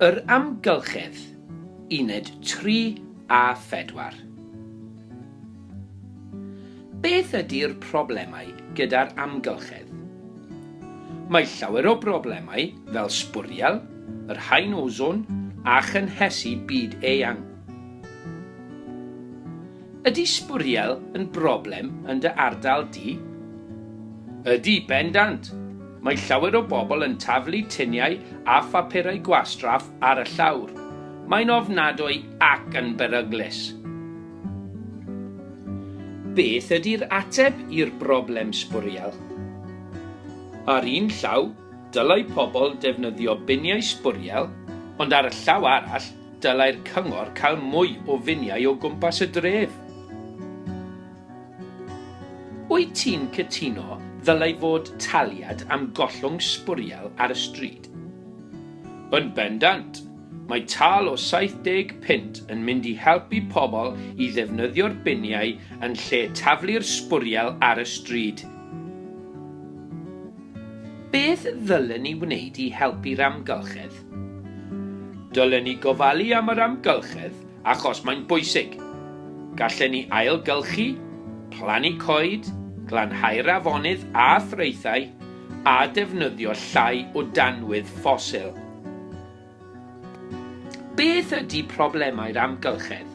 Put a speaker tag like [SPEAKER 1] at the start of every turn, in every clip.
[SPEAKER 1] Yr Amgylchedd, uned tri a phedwar. Beth ydi'r problemau gyda'r amgylchedd? Mae llawer o broblemau fel sbwriel yr haen ozon a chynhesu byd-eang. Ydi sbwriel yn broblem yn dy ardal di? Ydi, bendant! Mae llawer o bobl yn taflu tuniau a phapurau gwastraff ar y llawr. Mae'n ofnadwy ac yn beryglus. Beth ydy'r ateb i'r broblem sbwriel? Ar un llaw, dylai pobl defnyddio biniau sbwriel, ond ar y llaw arall, dylai'r cyngor cael mwy o finiau o gwmpas y dref. Wyt ti'n cytuno ddylai fod taliad am gollwng sbwriel ar y stryd? Yn bendant! Mae tâl o 70 punt yn mynd i helpu pobl i ddefnyddio'r biniau yn lle taflu'r sbwriel ar y stryd. Beth ddylen ni wneud i helpu'r amgylchedd? Dylen ni gofalu am yr amgylchedd Achos mae'n bwysig. Gallen ni ailgylchu, plannu coed, glanhau'r afonydd a thraethau a defnyddio llai o danwydd ffosil. Beth ydy problemau'r amgylchedd?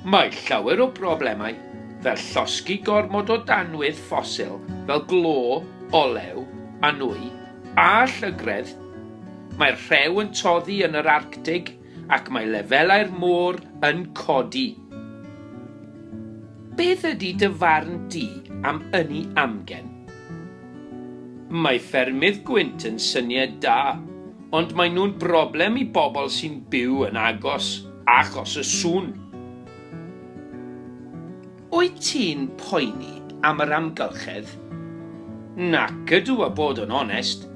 [SPEAKER 1] Mae llawer o broblemau, fel llosgi gormod o danwydd ffosil fel glo, olew a nwy, a llygredd. Mae'r rhew yn toddi yn yr Arctig, ac mae lefelau'r môr yn codi. Beth ydy dy farn di am ynni amgen? Mae ffermydd gwynt yn syniad da, ond maen nhw'n broblem i bobl sy'n byw yn agos achos y sŵn. Wyt ti'n poeni am yr amgylchedd? Nac ydw a bod yn onest.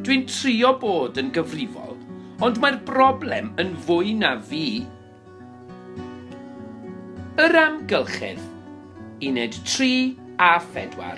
[SPEAKER 1] Dwi'n trio bod yn gyfrifol ond mae'r broblem yn fwy na fi. Yr amgylchedd, uned 3 a 4.